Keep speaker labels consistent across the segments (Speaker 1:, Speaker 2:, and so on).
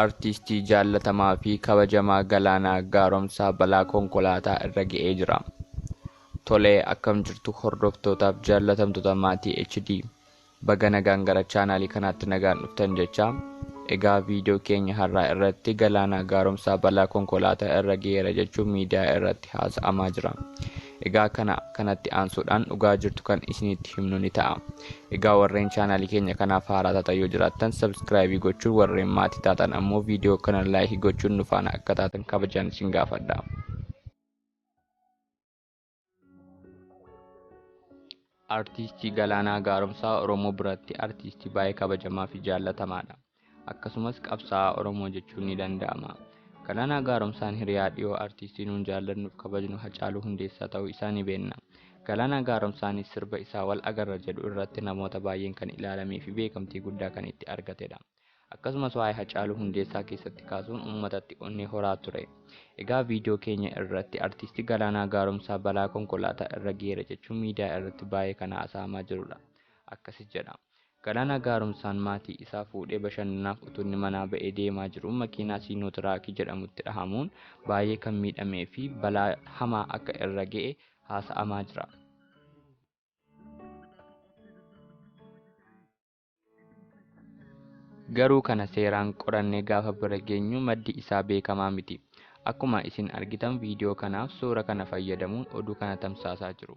Speaker 1: Artiistii jaallatamaa fi kabajamaa Galaanaa Gaaromsaa balaa konkolaataa irra ga'ee jira. Tolee akkam jirtu hordoftootaaf jaallatamtoota maatii HD baga nagaan gara chaanaalii kanaatti nagaan dhuftan jechaa egaa viidiyoo keenya har'aa irratti Galaanaa Gaaromsaa balaa konkolaataa irra ga'eera jechuun miidiyaa irratti haasa'amaa jira. Egaa kana kanatti aansuudhaan dhugaa jirtu kan isinitti himnu ni ta'a. Egaa warreen chaanaalii keenya kanaaf haaraa taatan yoo jiraattan sabskraayibii gochuun warreen maatii taatan ammoo viidiyoo kana laayikii gochuun nu faana akka taatan kabajaan isin gaafadha. Artiistii Galaanaa Gaaromsaa Oromoo biratti artiistii baay'ee kabajamaa fi jaallatamaadha. akkasumas qabsaa'aa Oromoo jechuun ni danda'ama. Galaanaa Gaaromsaan hiriyaa dhiyoo artiistii nuun jaallannuuf kabajnu Hacaaluu Hundeessaa ta'uu isaa ni beenna. Galaanaa Gaaromsaanis sirba isaa Wal Agarra jedhu irratti namoota baay'een kan ilaalamee fi beekamtii guddaa kan itti argatedha. Akkasumas waa'ee Hacaaluu Hundeessaa keessatti kaasuun uummatatti onnee horaa ture. Egaa viidiyoo keenya irratti artiistii Galaanaa Gaaromsaa balaa konkolaataa irra geera jechuun miidiyaa irratti baay'ee kan haasa'amaa jirudha. Akkasi jedha. Galaanaa Gaaromsaan maatii isaa fuudhee bashannanaaf utuu inni manaa ba'ee deemaa jiruu makiinaa Siinotiraakii jedhamutti dhahamuun baay'ee kan miidhamee fi balaa hamaa akka irra ga'e haasa'amaa jira. Garuu kana seeraan qorannee gaafa bira geenyu maddi isaa beekamaa miti. Akkuma isin argitan viidiyoo kanaaf suura kana fayyadamuun oduu kana tamsaasaa jiru.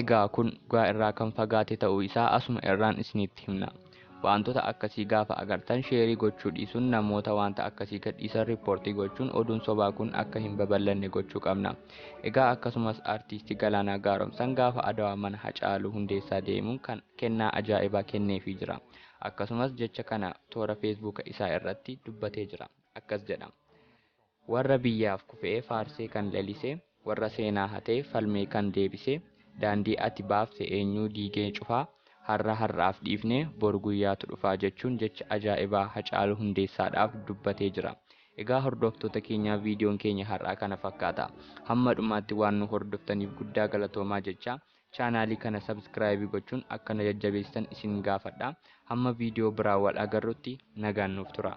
Speaker 1: Egaa kun dhugaa irraa kan fagaate ta'uu isaa asuma irraan isiniitti himna. Waantota akkasii gaafa agartan sheerii gochuu dhiisuun namoota waanta akkasii gadhiisan riippoortii gochuun oduun sobaa kun akka hin babal'anne gochuu qabna. Egaa akkasumas Artiisti Galaanaa Gaaromsaan gaafa Adawaa mana Hacaaluu Hundeessaa deemuun kan kennaa ajaa'ibaa kenneefii jira. Akkasumas jecha kana toora feesbuuka isaa irratti dubbatee jira. Akkas jedha. Warra biyyaaf kufee faarsee kan lalise, warra seenaa hatee falmee kan deebise, daandii ati baafte eenyuu diigee cufaa, har'a har'aaf dhiifnee bor guyyaatu dhufaa jechuun jecha ajaa'ibaa Hacaaluu Hundeessaadhaaf dubbatee jira. Egaa hordoftoota keenyaa viidiyoon keenya har'aa kana fakkaata. Hamma dhumaatti waan nu hordoftaniif guddaa galatoomaa jechaa, chaanaalii kana sabskraayibii gochuun akka na jajjabeessitan isin gaafadha. Hamma viidiyoo biraa wal agarrutti nagaan nuuf turaa.